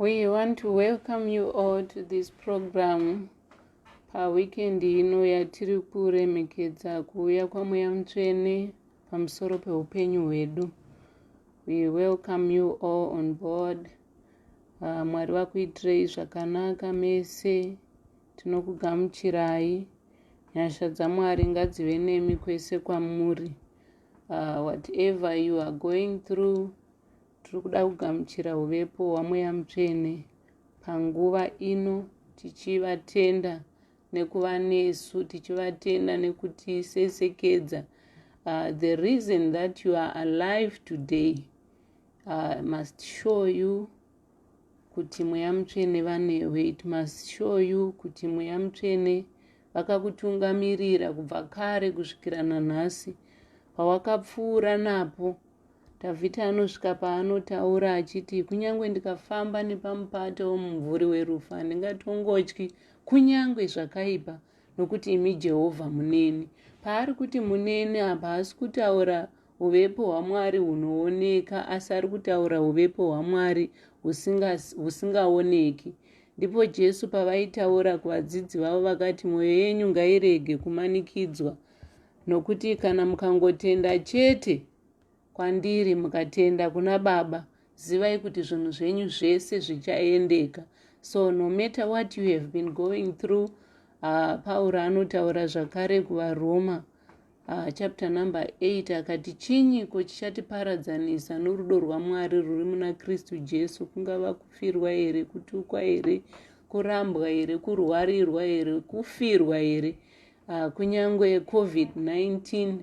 We want to welcome you all to this program paweekend ino yatiri kuremekedza kuuya kwamweya mutsvene pamusoro peupenyu hwedu we welcome you all on board uh, mwari vakuitirei zvakanaka mese tinokugamuchirai nyasha dzamwari ngadzive nemi kwese kwamuri uh, whatever you are going through tiri kuda kugamuchira uvepo hwamweya mutsvene panguva ino tichivatenda nekuva nesu tichivatenda nekutisesekedza uh, the reason that you are alive today uh, must show you kuti mweya mutsvene vanewe it must show you kuti mweya mutsvene vakakutungamirira kubva kare kusvikira nanhasi pawakapfuura napo dhavhidhi anosvika paanotaura achiti kunyange ndikafamba nepamupato womumvuri werufu handingatongotyi kunyange zvakaipa nokuti imi jehovha muneni paari kuti muneni apa haasi kutaura Huvepo hwaMwari hunooneka, asi ari kutaura huvepo hwaMwari husingaoneki. Ndipo Jesu pavaitaura kuvadzidzi vavo vakati, Mwoyo yenyu ngairege kumanikidzwa, nokuti kana mukangotenda chete kwandiri, mukatenda kuna Baba, zivai kuti zvinhu zvenyu zvese zvichaendeka. So no matter what you have been going through, uh, Pauro anotaura zvakare kuvaRoma Ah, chapter number 8 akati chinyiko chichatiparadzanisa norudo rwamwari rwuri muna kristu jesu kungava kufirwa here kutukwa here kurambwa here kurwarirwa here kufirwa here ah, kunyange covid-19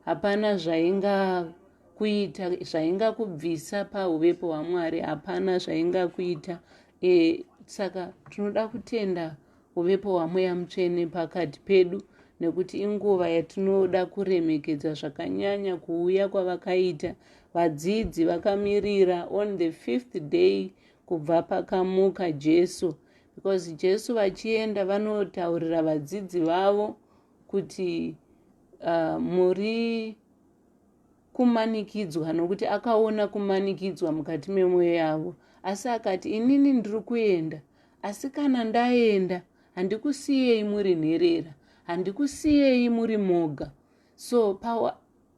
hapana zvaingakuita zvaingakubvisa pauvepo hwamwari hapana zvaingakuita e, saka tinoda kutenda Uvepo hwaMweya Mutsvene pakati pedu nekuti inguva yatinoda kuremekedza zvakanyanya kuuya kwavakaita vadzidzi vakamirira on the fifth day kubva pakamuka Jesu because Jesu vachienda vanotaurira vadzidzi vavo kuti uh, muri kumanikidzwa nokuti akaona kumanikidzwa mukati memwoyo yavo asi akati inini ndiri kuenda asi kana ndaenda handikusiyei muri nherera handikusiyei muri moga so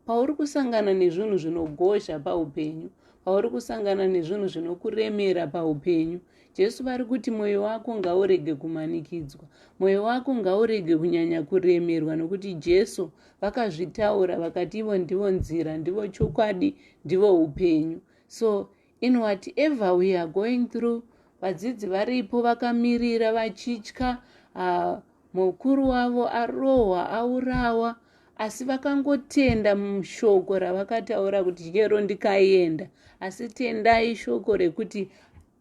pauri kusangana nezvinhu zvinogozha paupenyu pauri kusangana nezvinhu zvinokuremera paupenyu Jesu vari kuti mwoyo wako ngaurege kumanikidzwa, mwoyo wako ngaurege kunyanya kuremerwa, nokuti Jesu vakazvitaura vakati ivo ndivo nzira, ndivo chokwadi, ndivo upenyu. So in whatever we are going through, vadzidzi varipo vakamirira vachitya, uh, mukuru wavo arohwa, aurawa, asi vakangotenda mushoko ravakataura kuti chero ndikaenda, asi tendai shoko rekuti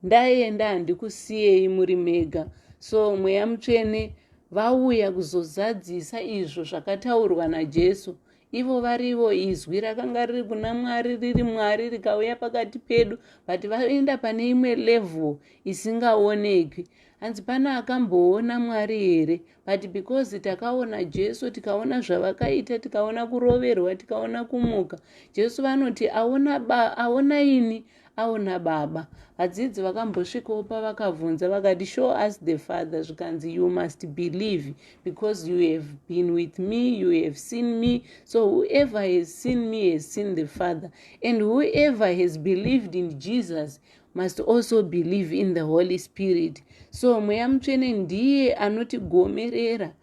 Ndaenda handikusiyei muri mega so mweya mutsvene vauya kuzozadzisa izvo zvakataurwa najesu ivo varivo izwi rakanga riri kuna mwari riri mwari rikauya pakati pedu but vaenda pane imwe level isingaonekwi hanzi pane akamboona mwari here but because takaona jesu tikaona zvavakaita tikaona kuroverwa tikaona kumuka jesu vanoti aona ba aona ini aona baba hadzidzi vakambosvikawo pavakavhunza vakati show us the father zvikanzi you must believe because you have been with me you have seen me so whoever has seen me has seen the father and whoever has believed in jesus must also believe in the holy spirit so mweya mutsvene ndiye anotigomerera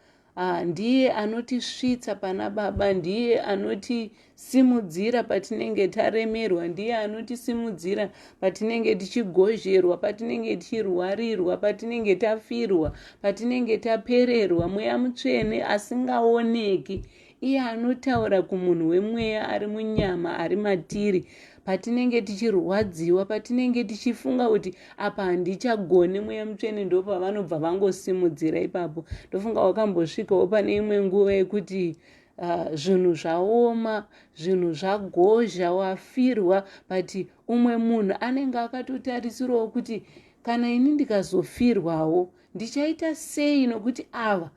Ah, ndiye anotisvitsa pana baba ndiye anotisimudzira patinenge taremerwa ndiye anotisimudzira patinenge tichigozherwa patinenge tichirwarirwa patinenge tafirwa patinenge tapererwa mweya mutsvene asingaoneki iye anotaura kumunhu wemweya ari munyama ari matiri ah, patinenge tichirwadziwa patinenge tichifunga kuti apa handichagone mweya mutsvene ndopavanobva vangosimudzira ipapo ndofunga wakambosvikawo pane imwe nguva yekuti ah, zvinhu uh, zvaoma zvinhu zvagozha wafirwa but umwe munhu anenge akatotarisirawo kuti kana ini ndikazofirwawo Ndichaita sei nokuti ava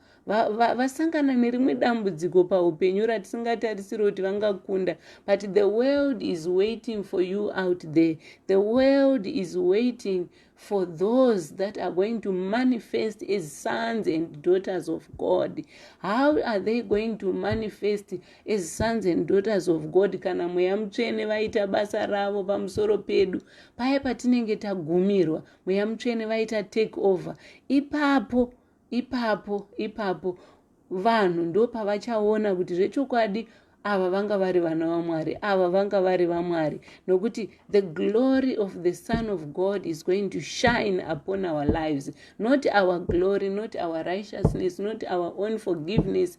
vasangana nerimwe dambudziko paupenyu ratisingatarisiri kuti vangakunda but the world is waiting for you out there the world is waiting for those that are going to manifest as sons and daughters of god how are they going to manifest as sons and daughters of god kana mweya mutsvene vaita basa ravo pamusoro pedu paya patinenge tagumirwa mweya mutsvene vaita take over ipapo ipapo ipapo vanhu ndopavachaona kuti zvechokwadi ava vanga vari vana vamwari ava vanga vari vamwari nokuti the glory of the son of god is going to shine upon our lives not our glory not our righteousness not our own forgiveness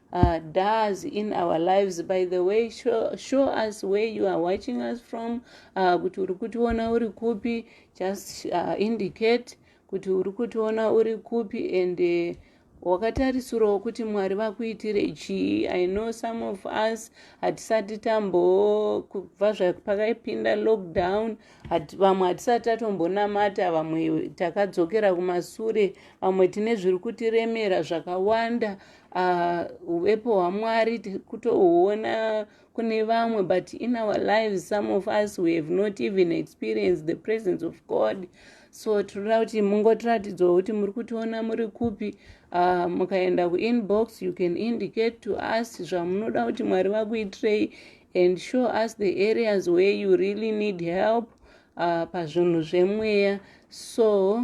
uh, does in our lives by the way show, show us where you are watching us from uh, kuti uri kutiona uri kupi just uh, indicate kuti uri kutiona uri kupi and uh, wakatarisirawo kuti mwari vakuitire chii i know some of us hatisati tambokubva zvapakaipinda lockdown vamwe hatisati tatombonamata vamwe takadzokera kumasure vamwe tine zviri kutiremera zvakawanda Ah, uvepo uh, hwamwari kutohuona kune vamwe but in our lives some of us we have not even experienced the presence of god so tinoda kuti mungotiratidzwa kuti muri kutiona muri kupi uh, mukaenda kuinbox you can indicate to us zvamunoda kuti mwari vakuitirei and show us the areas where you really need help uh, pazvinhu zvemweya so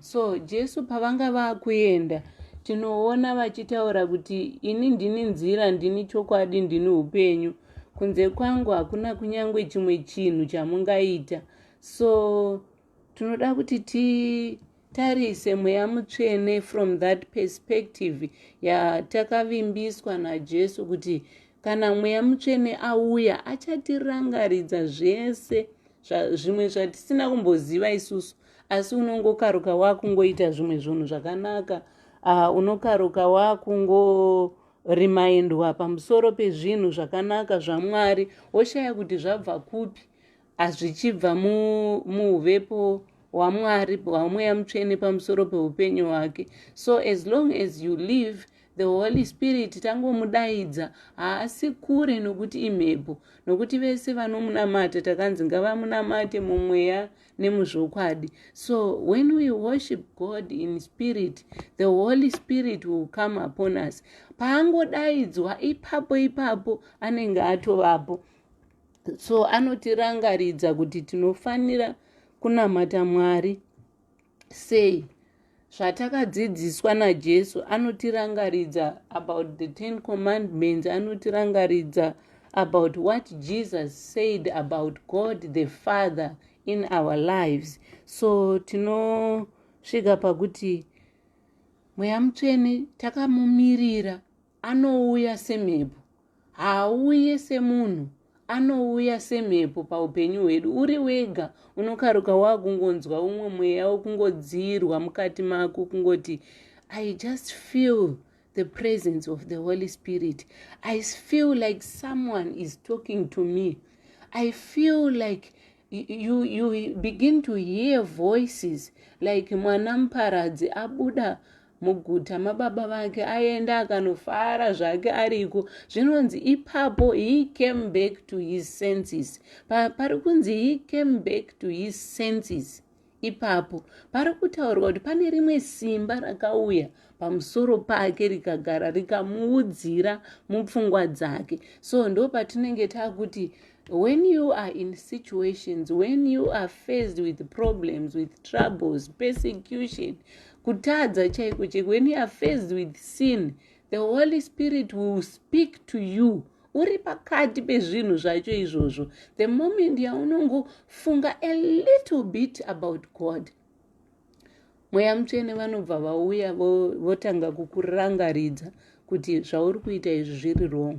so jesu pavanga vakuenda tinoona vachitaura kuti ini ndini nzira ndini chokwadi ndini upenyu kunze kwangu hakuna kunyange chimwe chinhu chamungaita so tinoda kuti titarise mweya mutsvene from that perspective yatakavimbiswa najesu kuti kana mweya mutsvene auya achatirangaridza zvese zvimwe zvatisina kumboziva isusu asi unongokaruka wakungoita zvimwe zvinhu zvakanaka uh, unokaruka wakungo rimaindwa pamusoro pezvinhu zvakanaka zvamwari woshaya kuti zvabva kupi hazvichibva muuvepo wamwari hwamweya mutsvene pamusoro peupenyu hwake so as long as you live the holy spirit tangomudaidza haasi kure nokuti imhepo nokuti vese vanomunamata takanzi ngavamunamate mumweya nemuzvokwadi so when we worship god in spirit the holy spirit will come upon us paangodaidzwa ipapo ipapo anenge atovapo so anotirangaridza kuti tinofanira kunamata mwari sei Zvatakadzidziswa naJesu anotirangaridza about the Ten Commandments, anotirangaridza about what Jesus said about God the Father in our lives. So tinosvika pakuti mweya mutsvene takamumirira anouya semhepo haauye semunhu anouya semhepo paupenyu hwedu uri wega unokaruka waakungonzwa umwe mweya wokungodziirwa mukati mako kungoti i just feel the presence of the holy spirit i feel like someone is talking to me i feel like you, you begin to hear voices like mwana muparadzi abuda muguta mababa vake aenda akanofara zvake ariko zvinonzi ipapo he came back to his senses pari kunzi he came back to his senses ipapo pari kutaurwa kuti pane rimwe simba rakauya pamusoro pake rikagara rikamuudzira mupfungwa dzake so ndo patinenge takuti When you are in situations, when you are faced with problems, with troubles, persecution, kutadza chaiko chaiko, when you are faced with sin, the Holy Spirit will speak to you. uri pakati pezvinhu zvacho izvozvo the moment yaunongofunga a little bit about god mweya mutsvene vanobva vauya votanga kukurangaridza kuti zvauri kuita izvi zviri wrong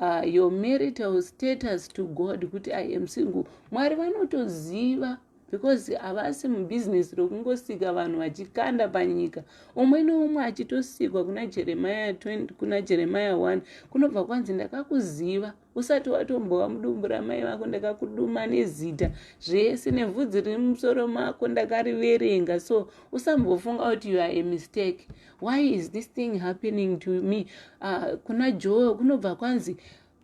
Uh, your marital status to God kuti I am single. Mwari vanotoziva because havasi mubusiness rokungosika vanhu vachikanda panyika umwe neumwe achitosikwa kuna jeremaya 20 kuna jeremaya 1 kunobva kwanzi ndakakuziva usati watombova mudumbu ramai vako ndakakuduma nezita zvese nevhudzi riri mumusoro mako ndakariverenga so usambofunga kuti you are a mistake why is this thing happening to me uh, kuna joe kunobva kwanzi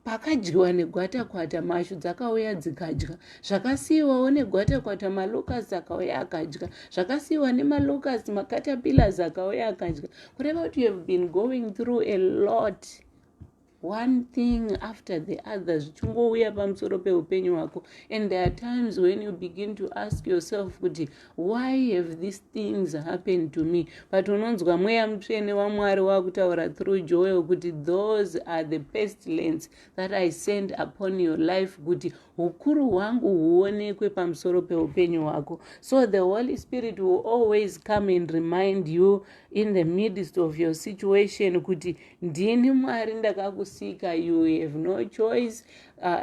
pakadyiwa negwatakwata mashu dzakauya dzikadya zvakasiyiwawo negwatakwata malucas akauya akadya zvakasiyiwa nemalucas macatapillars akauya akadya kureva kuti youhave been going through a lot one thing after the other zvichingouya pamusoro peupenyu hwako and there are times when you begin to ask yourself kuti why have these things happened to me but unonzwa mweya mutsvene wamwari wakutaura through joel kuti those are the pestilence that i send upon your life kuti hukuru hwangu huonekwe pamusoro peupenyu hwako so the holy spirit will always come and remind you in the midst of your situation kuti ndini mwari ndakakusika you have no choice uh,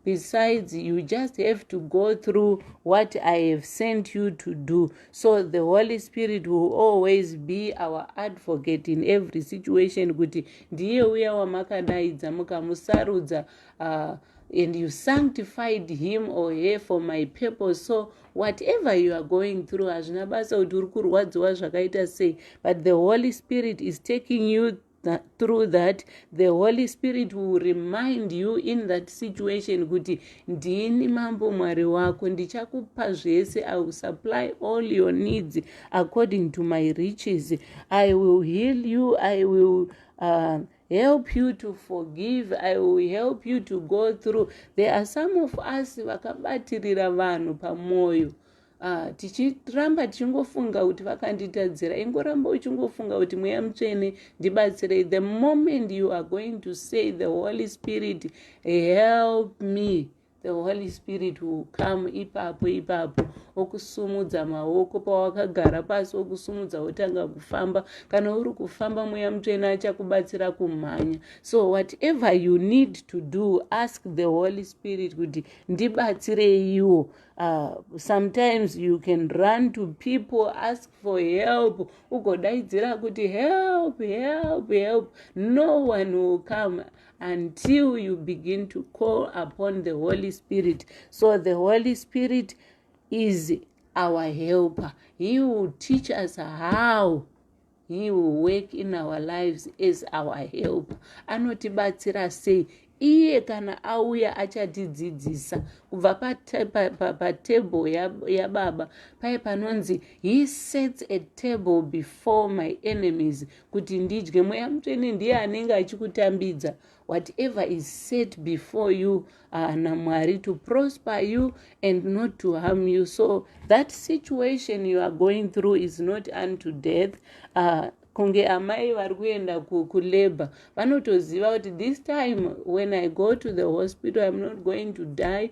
besides you just have to go through what i have sent you to do so the holy spirit will always be our advocate in every situation kuti ndiye uya wamakadaidza mukamusarudza uh, and you sanctified him or her for my purpose so whatever you are going through hazvina basa kuti uri kurwadziwa zvakaita sei but the holy spirit is taking you That, through that the holy spirit will remind you in that situation kuti ndini mambo mwari wako ndichakupa zvese i will supply all your needs according to my riches i will heal you i will uh, help you to forgive i will help you to go through there are some of us vakabatirira vanhu pamwoyo Ah, tichiramba tichingofunga kuti vakanditadzira ingoramba uchingofunga kuti mweya mutsvene ndibatsirei the moment you are going to say the holy spirit help me the holy spirit will come ipapo ipapo okusumudza maoko pawakagara pasi okusumudza wotanga kufamba kana uri kufamba mweya mutsvene achakubatsira kumhanya so whatever you need to do ask the holy spirit kuti ndibatsireiwo uh, sometimes you can run to people ask for help ugodaidzira kuti help help help no one will come until you begin to call upon the holy spirit so the holy spirit is our helper he will teach us how he will work in our lives as our helper anotibatsira sei iye kana auya achatidzidzisa kubva patable yababa paye panonzi he sets a table before my enemies kuti ndidye mweya mutsvene ndiye anenge achikutambidza whatever is set before you ana uh, mwari to prosper you and not to harm you so that situation you are going through is not unto death uh, kunge amai vari kuenda kulabor vanotoziva kuti this time when i go to the hospital im not going to die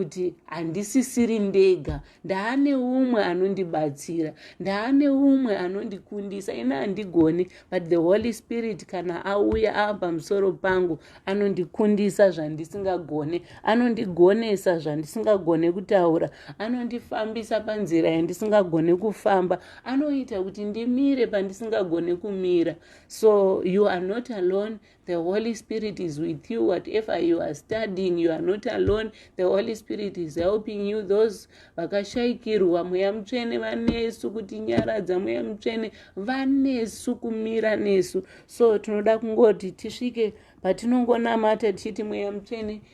kuti handisisiri ndega ndaane umwe anondibatsira ndaane umwe anondikundisa ini handigone but the holy spirit kana auya ava pamusoro pangu anondikundisa zvandisingagone anondigonesa zvandisingagone kutaura anondifambisa panzira yandisingagone kufamba anoita kuti ndimire pandisingagone kumira so you are not alone The Holy Spirit is with you. Whatever you are studying, you are not alone. The Holy Spirit is helping you. Those vakashaikirwa mweya mutsvene vanesu kuti nyaradza mweya mutsvene vanesu kumira nesu. So tinoda kungoti tisvike patinongonamata tichiti mweya mutsvene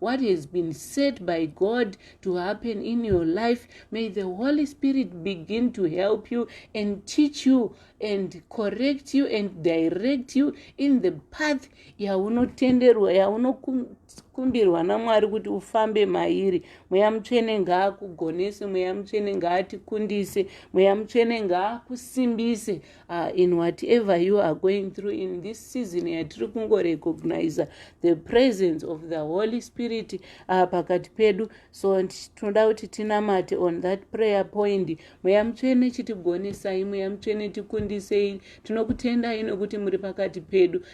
What has been said by God to happen in your life, may the Holy Spirit begin to help you and teach you and correct you and direct you in the path yaunotenderwa yaunokumbirwa namwari kuti ufambe mairi mweya mutsvene ngaakugonese mweya mutsvene ngaatikundise mweya mutsvene ngaakusimbise uh, in whatever you are going through in this season yatiri kungorecogniza the presence of the holy spirit uh, pakati pedu so tinoda kuti tinamate on that prayer point mweya mutsvene chitigonesai mweya mutsvene tikundisei tinokutendai nokuti muri pakati pedu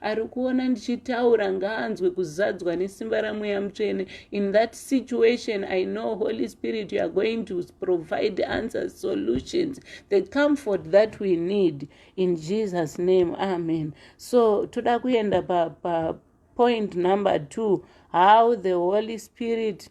ari kuona ndichitaura ngaanzwe kuzadzwa nesimba ramweya mutsvene in that situation i know holy spirit you are going to provide answers solutions the comfort that we need in jesus name amen so toda kuenda pa, pa point number two how the holy spirit pa,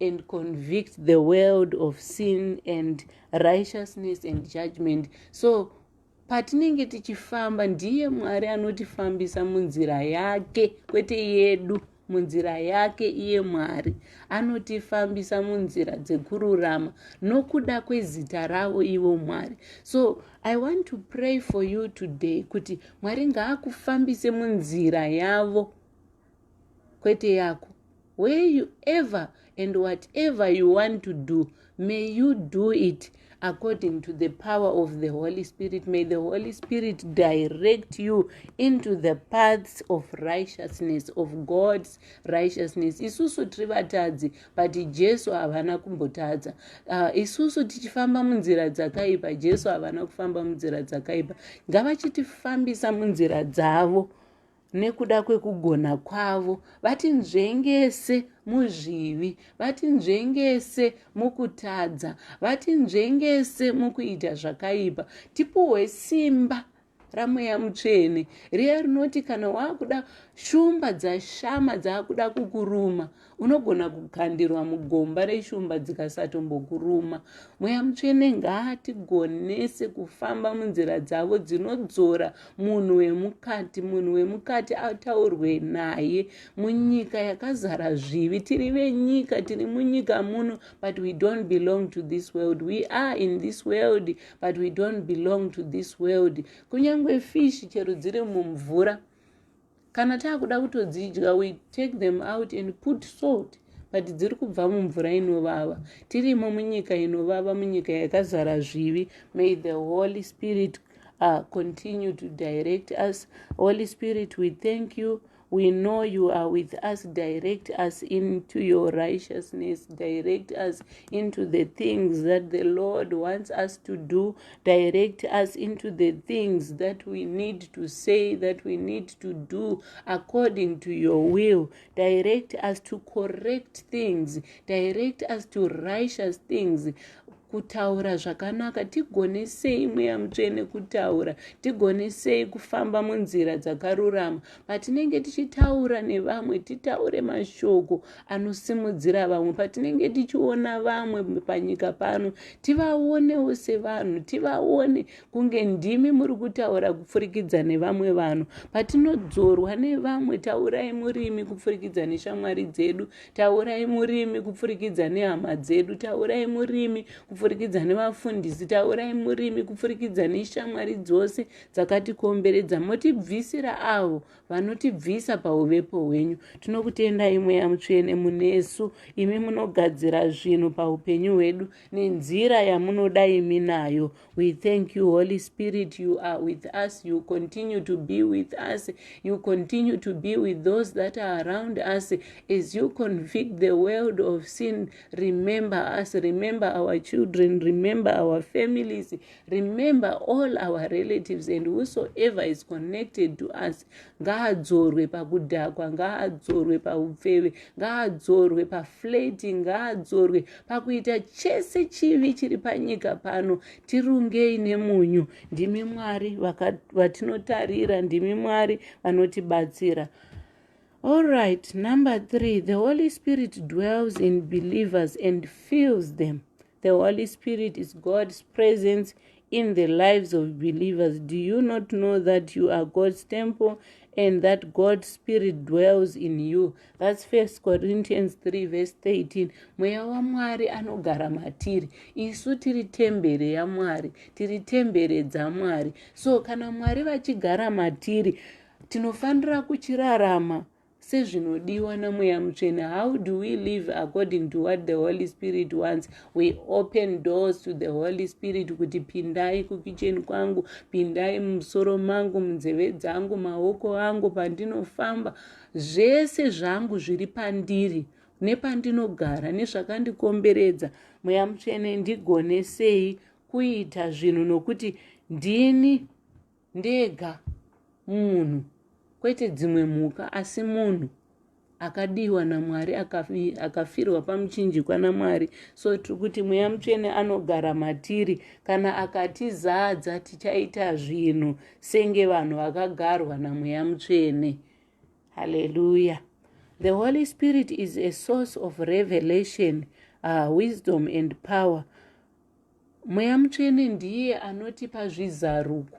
and convict the world of sin and righteousness and judgment so patinenge tichifamba ndiye mwari anotifambisa munzira yake kwete yedu munzira yake iye mwari anotifambisa munzira dzekururama nokuda kwezita ravo ivo mwari so i want to pray for you today kuti mwari ngaakufambise munzira yavo kwete yako where you ever and whatever you want to do may you do it according to the power of the holy spirit may the holy spirit direct you into the paths of righteousness of god's righteousness isusu tiri vatadzi but jesu havana kumbotadza uh, isusu tichifamba munzira dzakaipa jesu havana kufamba munzira dzakaipa ngavachitifambisa munzira dzavo nekuda kwekugona kwavo vatinzvengese muzvivi vatinzvengese mukutadza vatinzvengese mukuita zvakaipa tipuhwe simba ramweya mutsvene riya rinoti kana waakuda shumba dzashama dzaakuda kukuruma Unogona kukandirwa mugomba reshumba dzikasatombokuruma. Mweya Mutsvene ngaatigonese kufamba munzira dzavo dzinodzora munhu wemukati, munhu wemukati ataurwe naye munyika yakazara zvivi. Tiri venyika, tiri munyika muno, but we don't belong to this world. We are in this world, but we don't belong to this world. Kunyange fish chero dziri mumvura kana taakuda kutodzidya we take them out and put salt but dziri kubva mumvura inovava tirimo munyika inovava munyika yakazara zvivi may the holy spirit uh, continue to direct us holy spirit we thank you we know you are with us direct us into your righteousness direct us into the things that the lord wants us to do direct us into the things that we need to say that we need to do according to your will direct us to correct things direct us to righteous things kutaura zvakanaka tigone sei mweya mutsvene kutaura tigone sei kufamba munzira dzakarurama Patinenge tichitaura nevamwe, titaure mashoko anosimudzira vamwe. Patinenge tichiona vamwe panyika pano, tivaonewo sevanhu, tivaone kunge ndimi muri kutaura kupfurikidza nevamwe vanhu. Patinodzorwa nevamwe, taurai murimi kupfurikidza neshamwari dzedu, taurai murimi kupfurikidza nehama dzedu, taurai murimi kupfurikidza nevafundisi, taurai murimi kupfurikidza neshamwari dzose dzakatikomberedza motibvisira avo vanotibvisa pauvepo hwenyu tinokutendai mweya mutsvene munesu imi munogadzira zvinhu paupenyu hwedu nenzira yamunoda imi nayo we thank you holy spirit you are with us you continue to be with us you continue to be with those that are around us as you convict the world of sin remember us remember our children remember our families remember all our relatives and whosoever is connected to us ngaadzorwe pakudhakwa ngaadzorwe paupfeve ngaadzorwe paflati ngaadzorwe pakuita chese chivi chiri panyika pano tirungei nemunyu ndimi mwari vatinotarira ndimi mwari vanotibatsira All right, number three, the Holy Spirit dwells in believers and fills them. The Holy Spirit is God's presence in the lives of believers. Do you not know that you are God's temple and that God's Spirit dwells in you? That's 1 Corinthians 3, verse 13. Mweya waMwari anogara matiri. Isu tiri tembere yaMwari, tiri tembere dzaMwari. So kana Mwari vachigara matiri, tinofanira kuchirarama sezvinodiwa namweya mutsvene how do we live according to what the holy spirit wants we open doors to the holy spirit kuti pindai kukicheni kwangu pindai mumusoro mangu munzeve dzangu maoko angu pandinofamba zvese zvangu zviri pandiri nepandinogara nezvakandikomberedza mweya mutsvene ndigonesei kuita zvinhu nokuti ndini ndega munhu kwete dzimwe mhuka asi munhu akadiwa namwari akafirwa pamuchinjikwa namwari so tiri kuti mweya mutsvene anogara matiri kana akatizadza tichaita zvinhu senge vanhu vakagarwa namweya mutsvene haleluya the holy spirit is a source of revelation uh, wisdom and power Mweya mutsvene ndiye anotipa zvizaruko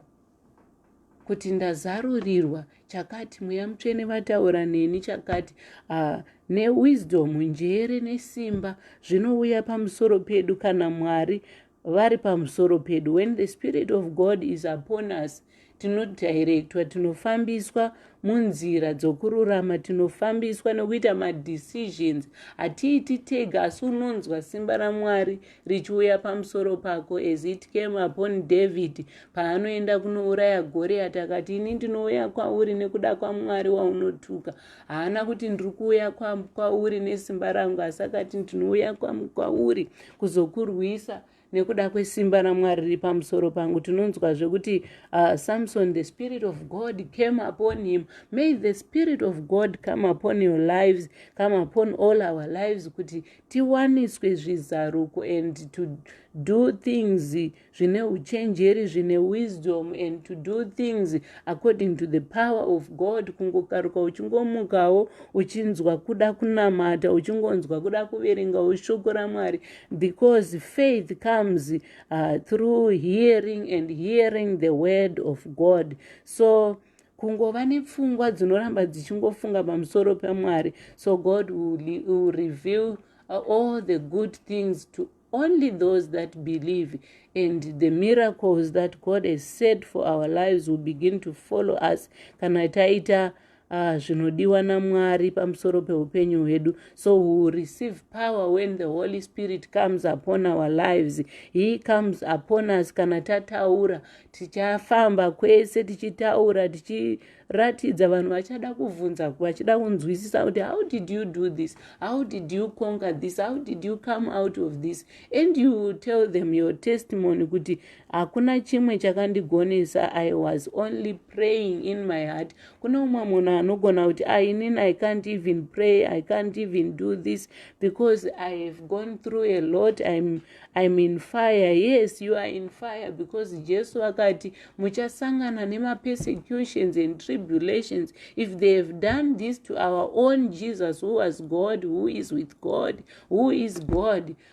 kuti ndazarurirwa chakati mweya mutsvene vataura neni chakati uh, newisdom njere nesimba zvinouya pamusoro pedu kana mwari vari pamusoro pedu when the spirit of god is upon us tinodirectwa tinofambiswa munzira dzokururama tinofambiswa nokuita madecisions hatiiti tega asi unonzwa simba ramwari richiuya pamusoro pako as it came upon david paanoenda kunouraya goriyati akati ini ndinouya kwauri nekuda kwamwari waunotuka haana kuti ndiri kuuya kwauri nesimba rangu asi akati ndinouya kwauri kuzokurwisa nekuda kwesimba ramwari riri pamusoro pangu tinonzwa zvekuti uh, samson the spirit of god came upon him may the spirit of god come upon your lives come upon all our lives kuti tiwaniswe zvizaruko and to do things zvine uchenjeri zvine wisdom and to do things according to the power of god kungokaruka uchingomukawo uchinzwa kuda kunamata uchingonzwa kuda kuverengawo shoko ramwari because faith comes uh, through hearing and hearing the word of god so kungova nepfungwa dzinoramba dzichingofunga pamusoro pemwari so god will, will reveal uh, all the good things to only those that believe and the miracles that god has said for our lives will begin to follow us kana taita Ah, zvinodiwa namwari pamusoro peupenyu hwedu so we will receive power when the holy spirit comes upon our lives he comes upon us kana tataura tichafamba kwese tichitaura tichiratidza vanhu vachada kuvhunza vachida kunzwisisa kuti how did you do this how did you conquer this how did you come out of this and you will tell them your testimony kuti hakuna chimwe chakandigonesa i was only praying in my heart kune umwe munhu anogona kuti ah, inin i can't even pray i can't even do this because i have gone through a lot im im in fire yes you are in fire because jesu akati muchasangana nemapersecutions and tribulations if they have done this to our own jesus who was god who is with god who is god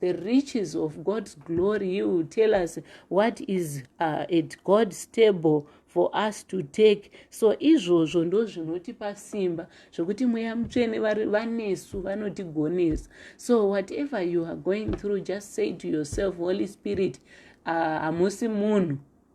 the riches of God's glory, He will tell us what is uh, at God's table for us to take so izvozvo ndo zvinotipa simba zvekuti mweya mutsvene vanesu vanotigonesa so whatever you are going through just say to yourself holy spirit uh, hamusi uh, munhu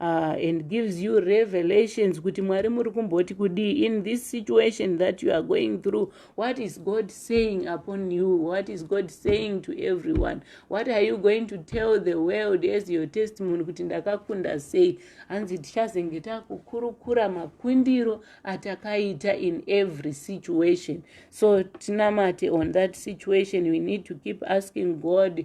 uh, and gives you revelations kuti mwari muri kumboti kudii in this situation that you are going through what is god saying upon you what is god saying to everyone what are you going to tell the world as your testimony kuti ndakakunda sei hanzi tichazenge takukurukura makundiro atakaita in every situation so tinamate on that situation we need to keep asking god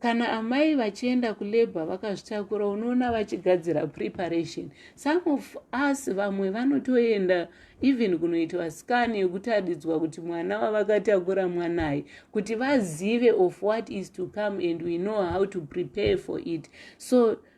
kana amai vachienda kulabor vakazvitakura unoona vachigadzira preparation some of us vamwe vanotoenda even kunoitwa scan yekutaridzwa kuti mwana wavakatakura mwanai kuti vazive of what is to come and we know how to prepare for it so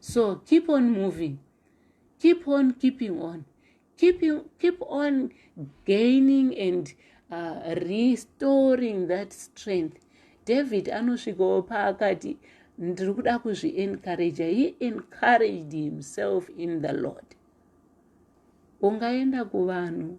so keep on moving keep on keeping on keep, keep on gaining and uh, restoring that strength david anosvikawo paakati ndiri kuda kuzviencouragea he encouraged himself in the lord ungaenda kuvanhu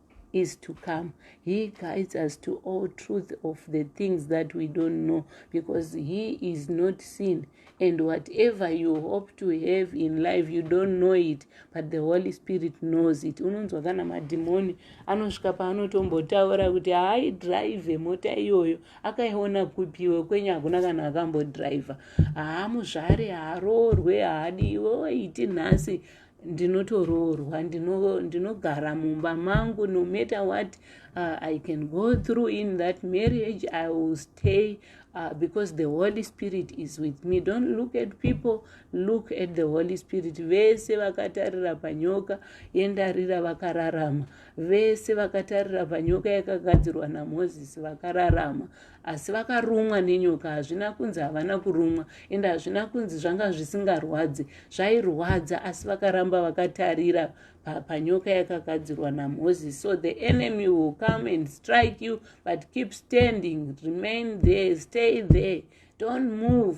is to come he guides us to all truth of the things that we don't know because he is not seen and whatever you hope to have in life you don't know it but the holy spirit knows it unonzwa kana madhimoni anosvika paanotombotaura kuti haaidrive mota iyoyo akaiona kupiwe kwenyu hakuna kana akambodriver haamuzvare haaroorwe haadiwe oiti nhasi ndinotoroorwa ndinogara ndino mumba mangu no matter what uh, i can go through in that marriage i will stay uh, because the holy spirit is with me don't look at people look at the holy spirit vese vakatarira panyoka yendarira vakararama vese vakatarira panyoka yakagadzirwa namozisi vakararama asi vakarumwa nenyoka hazvina kunzi havana kurumwa ende hazvina kunzi zvanga zvisingarwadzi zvairwadza asi vakaramba vakatarira panyoka yakagadzirwa namoses so the enemy will come and strike you but keep standing remain there stay there don't move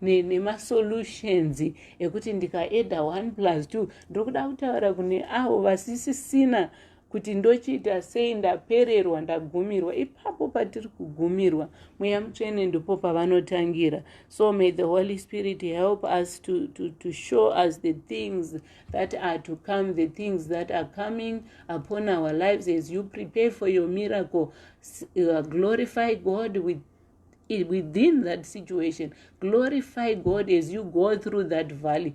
nemasolutions ne ekuti ndikaeda one plus two ndokuda kutaura kune avo vasisisina kuti ndochiita sei ndapererwa ndagumirwa ipapo patiri kugumirwa mweya mutsvene ndipo pavanotangira so may the holy spirit help us to, to, to show us the things that are to come the things that are coming upon our lives as you prepare for your miracle uh, glorify god with within that situation glorify god as you go through that valley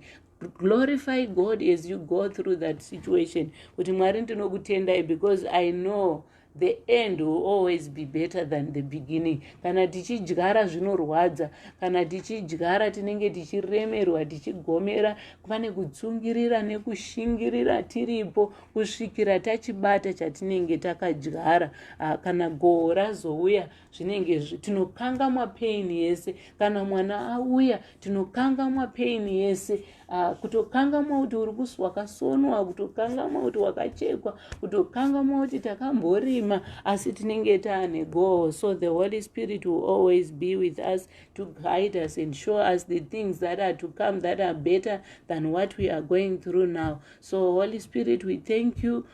glorify god as you go through that situation kuti mwari ndinokutendai because i know the end will always be better than the beginning kana tichidyara zvinorwadza kana tichidyara tinenge tichiremerwa tichigomera pane kutsungirira nekushingirira tiripo kusvikira tachibata chatinenge takadyara ah, kana goho razouya zvinenge tinokangamwa pain yese kana mwana auya tinokangamwa pain yese uh, kutokangamwa kuti uri kusi wakasonwa kutokangamwa kuti wakachekwa kutokangamwa kuti takamborima asi tinenge taane goal so the holy spirit will always be with us to guide us and show us the things that are to come that are better than what we are going through now so holy spirit we thank you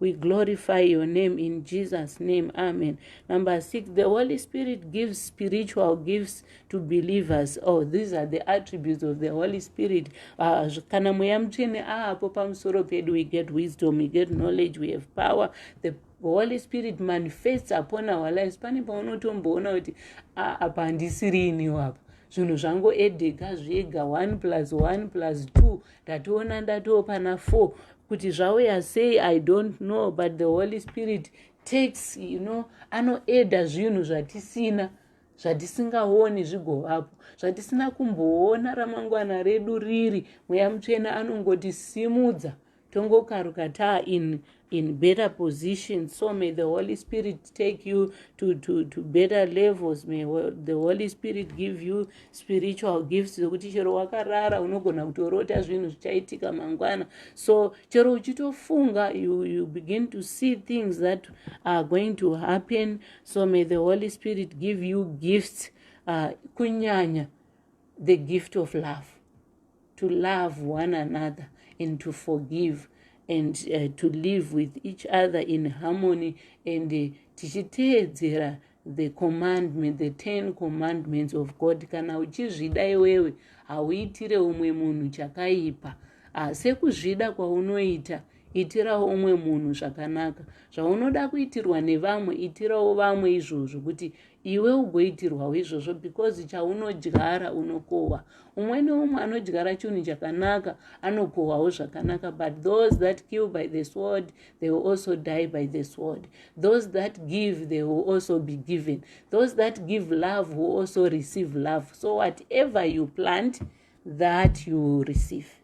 We glorify your name in Jesus' name. Amen. Number six, the Holy Spirit gives spiritual gifts to believers. Oh, these are the attributes of the Holy Spirit. Ah, kana mweya mutsvene aapo ah, pamusoro pedu, we get wisdom, we get knowledge, we have power. The holy spirit manifests upon our lives pane paunotomboona kuti ah, apa handisiri iniwo apa zvinhu zvangoedeka zvega one plus one plus two ndatoona ndatoo pana four kuti zvauya sei i don't know but the holy spirit takes you know anoeda zvinhu zvatisina zvatisingaoni zvigovapo zvatisina kumboona ramangwana redu riri mweya mutsvene anongoti simudza tongokaruka taa in in better position so may the holy spirit take you to, to, to better levels may the holy spirit give you spiritual gifts zvokuti chero wakarara unogona kutorota zvinhu zvichaitika mangwana so chero uchitofunga you, you begin to see things that are going to happen so may the holy spirit give you gifts uh, kunyanya the gift of love to love one another and to forgive and uh, to live with each other in harmony and uh, tichiteedzera the commandment the ten commandments of god kana uchizvida iwewe hauitire umwe munhu chakaipa uh, sekuzvida kwaunoita itirawo umwe munhu zvakanaka zvaunoda kuitirwa nevamwe itirawo vamwe izvozvo kuti iwe ugoitirwawo izvozvo because chaunodyara unokohwa umwe neumwe anodyara chinhu chakanaka anokohwawo zvakanaka but those that kill by the sword they will also die by the sword those that give they will also be given those that give love will also receive love so whatever you plant that you will receive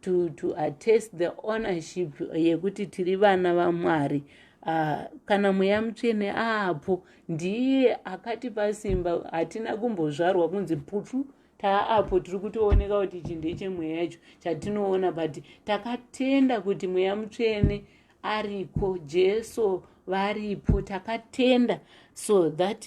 to, to attest the ownership yekuti tiri vana vamwari uh, kana mweya mutsvene aapo ndiye akatipa simba hatina kumbozvarwa kunzi putu taapo tiri kutooneka kuti ichi ndechemweya yacho chatinoona but takatenda kuti mweya mutsvene ariko jesu varipo takatenda so that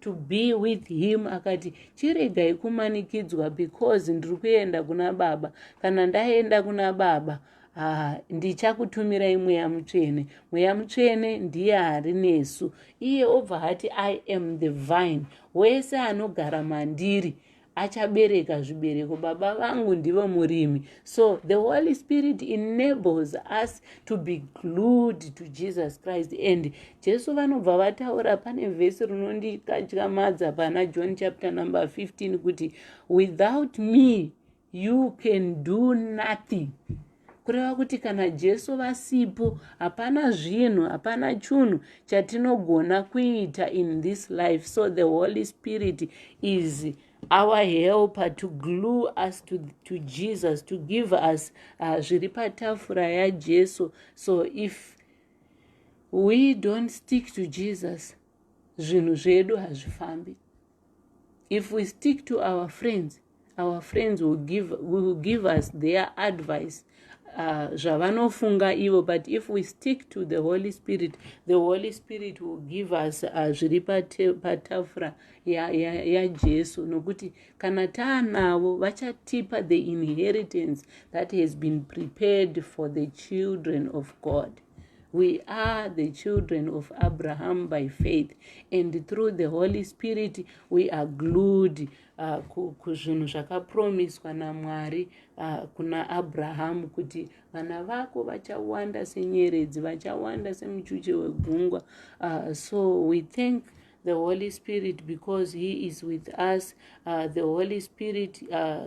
to be with him akati chiregai kumanikidzwa because ndiri kuenda kuna baba kana ndaenda kuna baba haa ndichakutumirai mweya mutsvene mweya mutsvene ndiye ari nesu iye obva hati i am the vine wese anogara mandiri achabereka zvibereko baba vangu ndivo murimi so the holy spirit enables us to be glued to jesus christ and jesu vanobva vataura pane vhesi rinondikatyamadza pana john chapter number 15 kuti without me you can do nothing kureva kuti kana jesu vasipo hapana zvinhu hapana chunhu chatinogona kuita in this life so the holy spirit is our helper to glue us to, to jesus to give us uh, zviri patafura yajesu so if we don't stick to jesus zvinhu zvedu hazvifambi if we stick to our friends our friends will give, will give us their advice uh, zvavanofunga uh, ivo but if we stick to the holy spirit the holy spirit will give us uh, zviri patafura yajesu ya, ya nokuti kana taanavo vachatipa the inheritance that has been prepared for the children of god We are the children of Abraham by faith, and through the Holy Spirit, we are glued uh, kuzvinhu zvakapromiswa naMwari uh, kuna Abraham kuti vana vako vachawanda senyeredzi vachawanda semuchuche wegungwa uh, so we thank the Holy Spirit because he is with us uh, the Holy Spirit uh,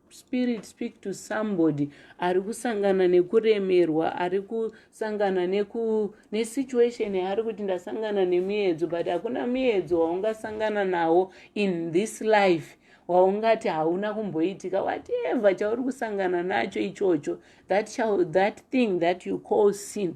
spirit speak to somebody ari kusangana nekuremerwa ari kusangana neku nesituation yaari kuti ndasangana nemiedzo but hakuna miedzo waungasangana nawo in this life waungati hauna kumboitika whatever chauri kusangana nacho ichocho that, shall, that thing that you call sin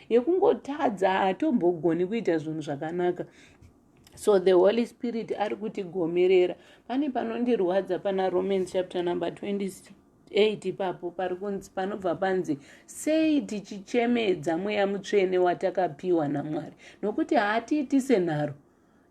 yekungotadza hatombogoni kuita zvinhu zvakanaka so the holy spirit ari kutigomerera pane panondirwadza pana romans chapter number 28 ipapo pari kunzi panobva panzi sei tichichemedza mweya mutsvene watakapiwa namwari nokuti haatiiti senharo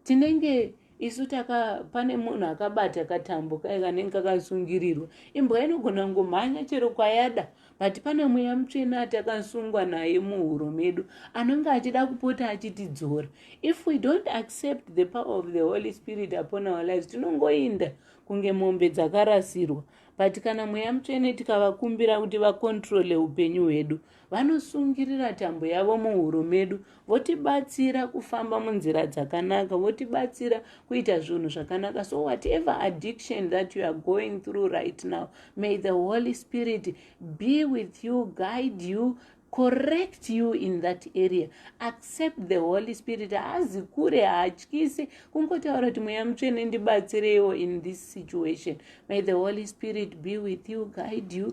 tinenge isu taka pane munhu akabata katambo kaye kanenge kakasungirirwa imbwa inogona kungomhanya chero kwayada but pane mweya mutsvene atakasungwa naye muhuro medu anonge achida kupota achitidzora if we don't accept the power of the holy spirit upon our lives tinongoinda kunge mombe dzakarasirwa but kana mweya mutsvene tikavakumbira kuti vakontrole upenyu hwedu vanosungirira tambo yavo muhuro medu votibatsira kufamba munzira dzakanaka votibatsira kuita zvinhu zvakanaka so whatever addiction that you are going through right now may the holy spirit be with you guide you correct you in that area accept the holy spirit haazi kure haatyise kungotaura kuti mweya mutsvene ndibatsireiwo in this situation may the holy spirit be with you guide you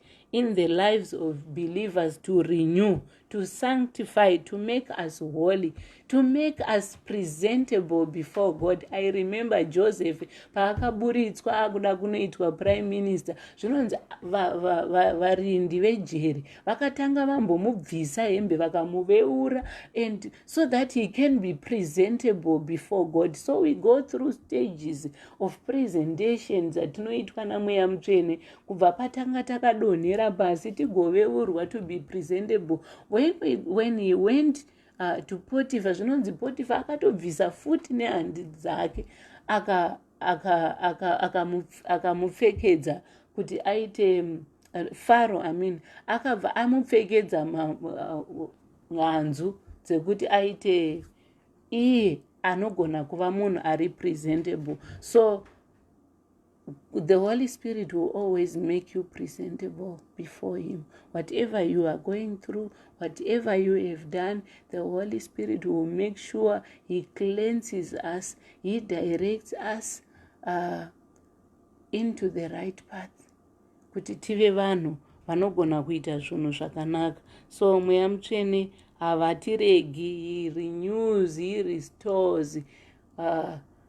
in the lives of believers to renew to sanctify to make us holy to make us presentable before god i remember joseph paakaburitswa akuda kunoitwa prime minister zvinonzi varindi va, va, va, vejeri vakatanga vambomubvisa hembe vakamuveura and so that he can be presentable before god so we go through stages of presentations atinoitwa namweya mutsvene kubva patanga takadonhera pasi tigoveurwa to be presentable when, we, when he went uh, to potifa zvinonzi potifa akatobvisa futi nehandi dzake akamupfekedza aka, aka, aka kuti aite uh, faro i mean akabva amupfekedza mhanzu uh, dzekuti aite iye anogona kuva munhu ari presentable so the holy spirit will always make you presentable before him whatever you are going through whatever you have done the holy spirit will make sure he cleanses us he directs us uh, into the right path kuti tive vanhu vanogona kuita zvinhu zvakanaka so mweya mutsvene havatiregi he renews he restores uh,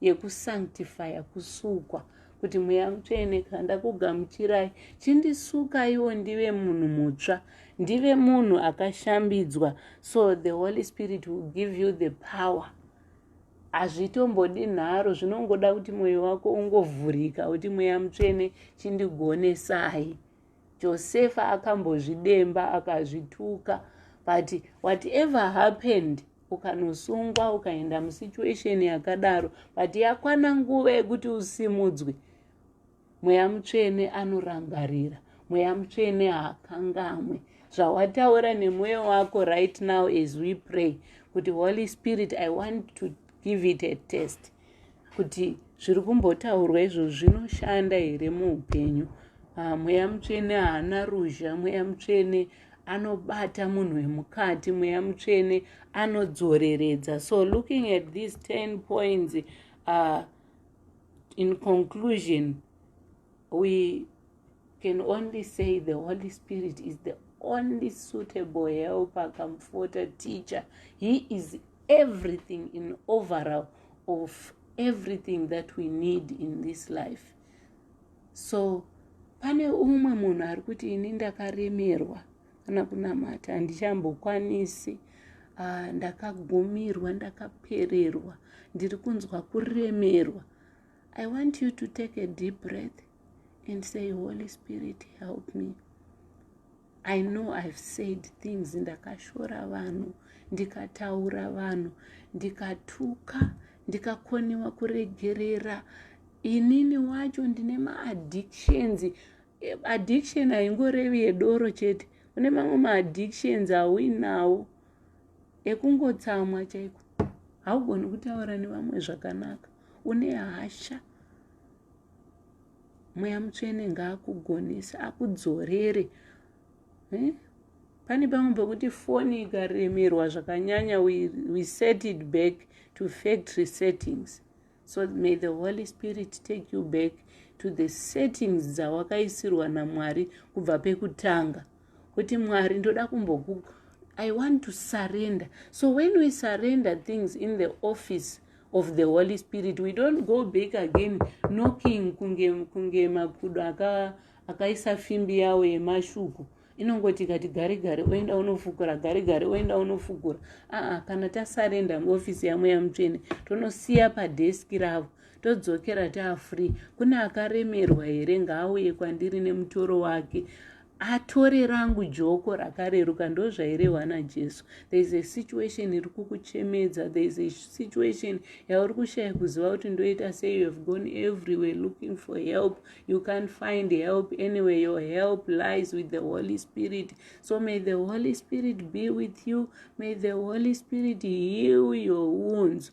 yekusanctifya kusukwa kuti mweya mutsvene kana ndakugamuchirai chindisukaiwo ndive munhu mutsva ndive munhu akashambidzwa so the holy spirit will give you the power hazvitombodi nharo zvinongoda kuti mwoyo wako ungovhurika kuti mweya mutsvene chindigonesai Josefa akambozvidemba akazvituka but whatever happened ukanosungwa ukaenda musituation yakadaro but yakwana nguva yekuti usimudzwe mweya mutsvene anorangarira mweya mutsvene haakangamwe zvawataura nemweya wako right now as we pray kuti holy spirit i want to give it a test kuti zviri kumbotaurwa izvo zvinoshanda here muupenyu ah, mweya mutsvene haana ruzha mweya mutsvene anobata munhu wemukati mweya mutsvene anodzoreredza so looking at these 10 points uh, in conclusion we can only say the holy spirit is the only suitable helper comforter teacher he is everything in overall of everything that we need in this life so pane umwe munhu ari kuti ini ndakaremerwa kana kunamata handichambokwanisi ah, ndakagumirwa ndakapererwa ndiri kunzwa kuremerwa I want you to take a deep breath and say, Holy Spirit, help me. I know I've said things ndakashora vanhu, ndikataura vanhu, ndikatuka, ndikakonewa kuregerera. Inini wacho ndine maaddictions. Addiction haingorevi yedoro chete. Kune mamwe maaddictions auinawo ekungotsamwa chaiko. Haugoni kutaura nevamwe zvakanaka. une hasha mweya mutsvene ngaakugonese akudzorere eh? pane pamwe pekuti foni ikaremerwa zvakanyanya we, we set it back to factory settings so may the holy spirit take you back to the settings dzawakaisirwa namwari kubva pekutanga kuti mwari ndoda kumboku i want to surrender so when we surrender things in the office of the holy spirit we don't go back again knocking kunge kunge makudo akaisa fimbi yawo yemashuku inongoti kati gare gare oenda unofukura gare gare oenda unofukura aa kana tasarenda muofisi yamweya mutsvene tonosiya padheski ravo todzokera taafree kune akaremerwa here ngaauye kwandiri nemutoro wake atore rangu joko rakareruka ndozvairehwa najesu there is a situation iri kukuchemedza there is a situation yauri kushaya kuziva kuti ndoita sei you have gone everywhere looking for help you can't find help anyway your help lies with the holy spirit so may the holy spirit be with you may the holy spirit heal your wounds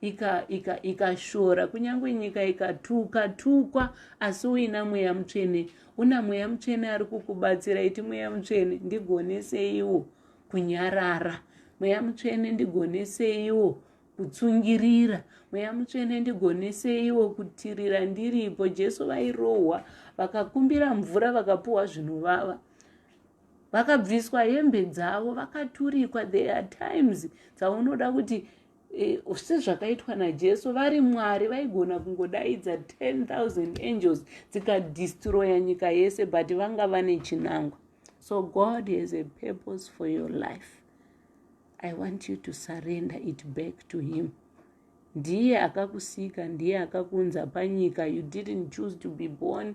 ikashora ika, ika kunyange nyika ikatuka tukwa asi uina mweya mutsvene una mweya mutsvene ari kukubatsira iti mweya mutsvene ndigoneseiwo kunyarara mweya mutsvene ndigoneseiwo kutsungirira mweya mutsvene ndigoneseiwo kutirira ndiripo jesu vairohwa vakakumbira mvura vakapuwa zvinovava vakabviswa hembe dzavo vakaturikwa there are times dzaunoda kuti Eh, sezvakaitwa najesu vari mwari vaigona kungodaidza 10000 angels dzikadistroya nyika yese but vanga vane chinangwa so god has a purpose for your life i want you to surrender it back to him ndiye akakusika ndiye akakunza panyika you didn't choose to be born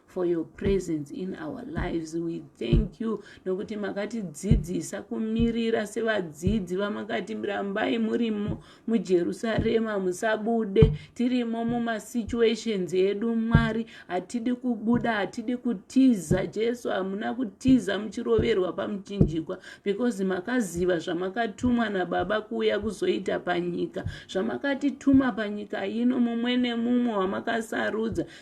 for your presence in our lives we thank you nokuti makatidzidzisa kumirira sevadzidzi vamakati rambai murimo mujerusarema musabude tirimo mumasituations edu mwari hatidi kubuda hatidi kutiza jesu hamuna kutiza muchiroverwa pamuchinjikwa because makaziva zvamakatumwa nababa kuuya kuzoita panyika zvamakatituma panyika ino mumwe nemumwe wamakasarudza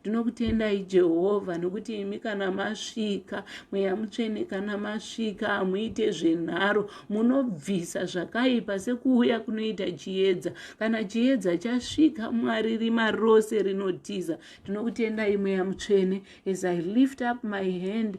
ndinokutendai jehovha nokuti imi kana masvika mweya mutsvene kana masvika hamuite zvenharo munobvisa zvakaipa sekuuya kunoita chiedza kana chiedza chasvika mwari rima rose rinotiza ndinokutendai mweya mutsvene as i lift up my hand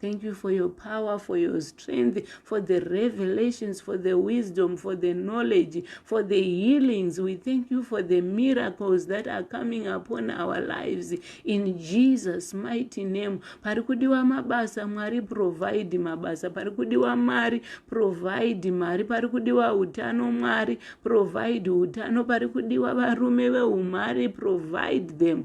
Thank you for your power, for your strength, for the revelations, for the wisdom, for the knowledge, for the healings. We thank you for the miracles that are coming upon our lives in Jesus' mighty name. Parikudiwa mabasa, Mwari provide mabasa. Parikudiwa Mari, provide Mari. Parikudiwa utano, Mwari provide utano. Parikudiwa varume veumari, provide them.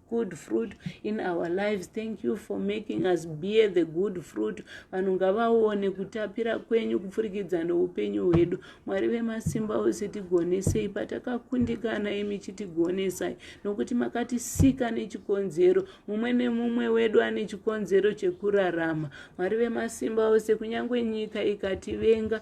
good fruit in our lives thank you for making us bear the good fruit vanhu ngavaone kutapira kwenyu kupfurikidza noupenyu hwedu mwari vemasimba ose tigonesei patakakundikana imi chitigonesai nokuti makatisika nechikonzero mumwe nemumwe wedu ane chikonzero chekurarama mwari vemasimba ose kunyange nyika ikativenga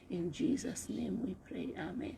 In Jesus name we pray. Amen.